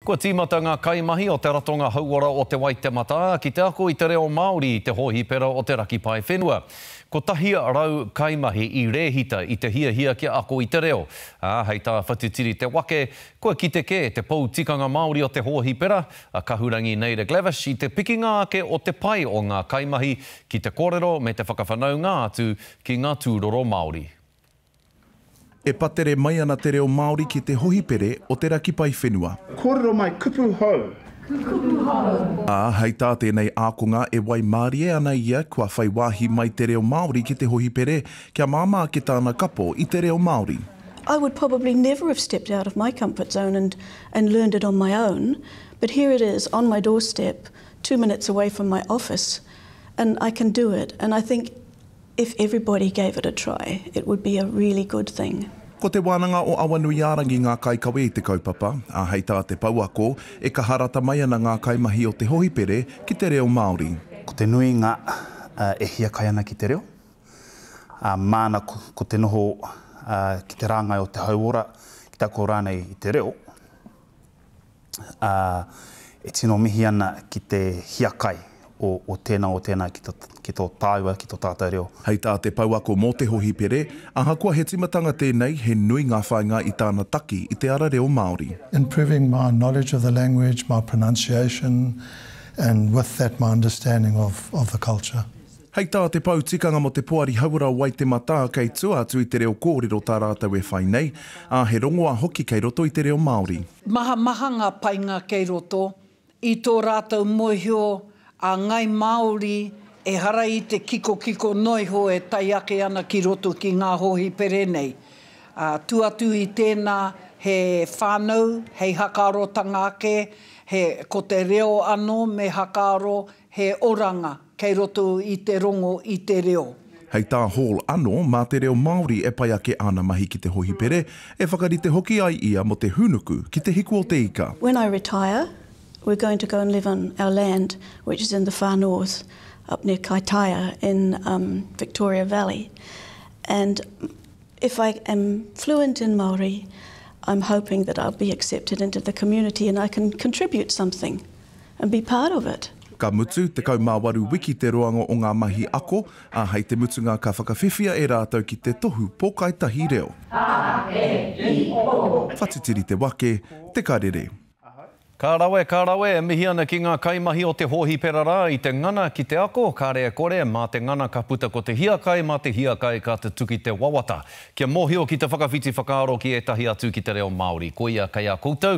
Kua tīmata ngā kaimahi o te Ratonga Hauora o Te Waitematā ki te ako i te reo Māori i te hōhipera o te Raki Paewhenua. Kotahi rau kaimahi i rēhita i te hiahia kia ako i te reo, ā, hei tā Whatitiri Te Wake, kua kite kē te pou tikanga Māori o te hōhipera, a Kahurangi Naida Glavish, i te pikinga ake o te pai o ngā kaimahi ki te kōrero me te whakawhanaunga atu ki ngā tūroro Māori. E patere mai ana te reo Māori ki te hohipere o te raki paewhenua. Kōrero mai, kupu hou! Kupu hou! Ā, hei tā tēnei ākonga e waimarie ana ia kua whai wāhi mai te reo Māori ki te hohipere kia māmā ake tāna kapo i te reo Māori. I would probably never have stepped out of my comfort zone and and learned it on my own, but here it is on my doorstep, two minutes away from my office, and I can do it, and I think, If everybody gave it a try, it would be a really good thing. Ko Te Wānanga o Awanuiārangi ngā kaikawe i te kaupapa, ā, hei tā te pouako, e kaha rata mai ana ngā kaimahi o te hohipere ki te reo Māori. Ko te nuinga e hiakai ana ki te reo, ā, māna ko te noho ki te rāngai o te hauora, ki te ako rānei i te reo. ā, e tino mihi ana ki te hiakai o tēnā, o tēnā ki tō tāua, ki tō tātou reo. Hei tā te pouako mō te hohipere, ahakoa he timatanga tēnei, he nui ngā whāinga i tāna taki i te ara reo Māori. Improving my knowledge of the language, my pronunciation and with that my understanding of of the culture. Hei tā te pou tikanga mō te Poari Hauora Waitematā, kei tua atu i te reo kōrero tā rātou e whai nei, ā, he rongoā hoki kei roto i te reo Māori. Mahamaha ngā painga kei roto i tō rātou mōhio a Ngāi Māori ehara i te kikokiko noa iho e tae ake ana ki roto ki ngā hōhipere nei. Tu atu i tēnā he whānau hei hakaarotanga ake, he ko te reo anō me hakaaro he oranga. Kei roto i te rongo i te reo. Hei tā Hall anō, mā te reo Māori e pai ake āna mahi ki te hohipere, e whakarite hoki ai ia mō te hūnuku ki te hiku o te ika. When I retire, we're going to go and live on our land which is in the far north up near Kaitaia in Victoria Valley and if I am fluent in Māori, I'm hoping that I'll be accepted into the community and I can contribute something. and be part of it. Ka mutu, 18 wiki te roanga o ngā mahi ako, ā, hei te mutunga ka whakawhiwhia e rātou ki te tohu pōkaitahi reo. Whatitiri te wake, te karere. Ka rawe, ka rawe, e mihi ana ki ngā kaimahi o te hōhipera rā i te ngana ki te ako, kāre e kore, mā te ngana ka puta ko te hiakai, mā te hiakai ka tutuki te wawata. Kia mōhio ki te whakawhiti whakaaro ki ētahi atu ki te reo Māori, koia kei a koutou,